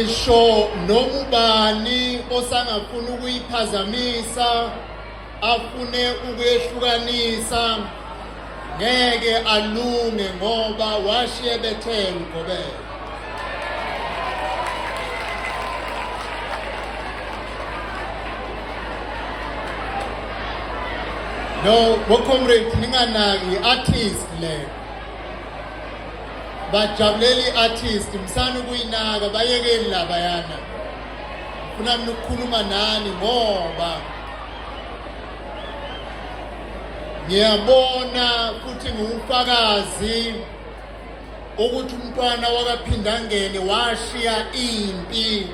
Isho noma ubani osangafuna ukuyiphazamisa afune ukuyehlukanisa ngeke alunge ngoba washiye bethela ugobela no ngocomrade ninganaki i-artist le bajabulela i-artist msani ukuyinaka bayekeni labayana funa mina ukukhuluma nani ngoba ngiyabona futhi ngiwufakazi ukuthi umntwana wakaphindangene washiya impi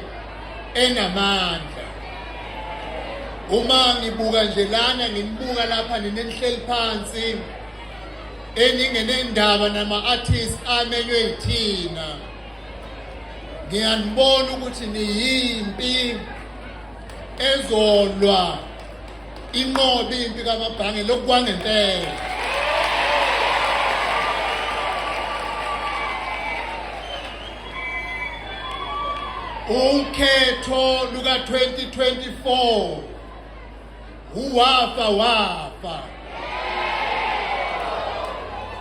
enamandla uma ngibuka nje lana ngimbuka lapha ninenihleli phansi eningenendaba nama-artist amenywe yithina ngiyanibona ukuthi niyimpi ezolwa inqobe impi kamabhange lokukwangempela ukhetho luka-2024 Uwafa wafa.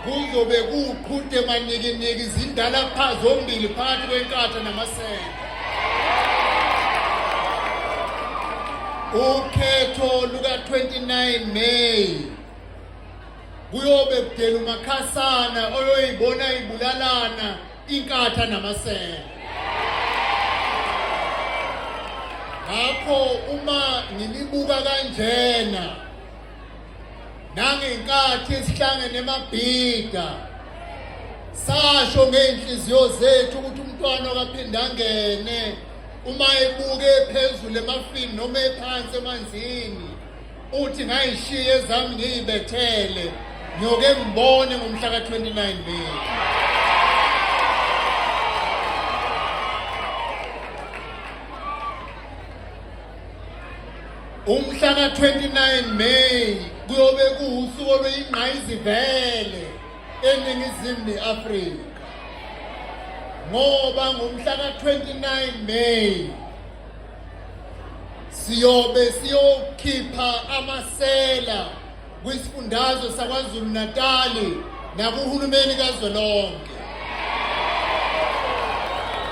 Kuzobe kuqhute manikiniki izindala pha zombili phakathi kwenkatha namasende. Ukhetho luka 29 May kuyobe kudela umakhasana oyoyibona ibulalana inkatha namasela ngakho uma ngilibuka kanjena nangenkathi esihlangene emabhida sasho ngey'nhliziyo zethu ukuthi umntwana okaphinde angene uma ebuke phezulu emafini noma ephansi emanzini uthi ngayishiye ezami ngiyibethele ngiyoke ngibone ngomhla ka-29 May umhla ka-29 May kuyobe kuwusuku oluyingqayizivele eningizimu ne-Afrika ngoba ngomhla ka-29 May siyobe siyokhipha amasela kwisifundazwe saKwaZulu-Natali nakuhulumeni kazwelonke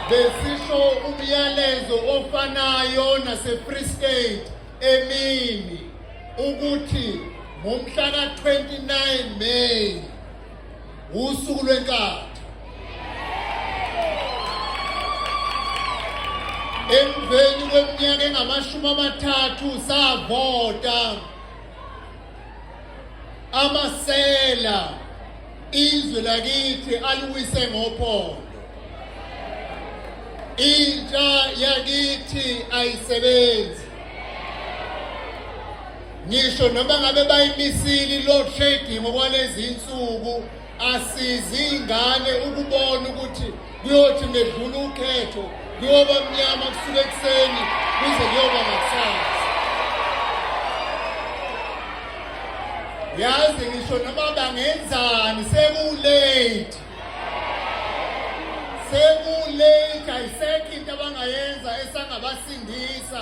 besisho umyalezo ofanayo nase-free state emini ukuthi ngomhla ka-29 may wusuku lwenkatha emveni kweminyaka engamashumi amathathu savota amasela izwe lakithi aliwise ngophondo intsha yakithi ayisebenzi ngisho noma ngabe bayimisile i-load shedding okwalezi nsuku asizi ingane ukubona ukuthi kuyothi ngedlula ukhetho kuyoba mnyama kusuka ekuseni kuze kuyoba ngakusasa yazi ngisho noma bangenzani sekulate sekulate ayisekho into abangayenza esangabasindisa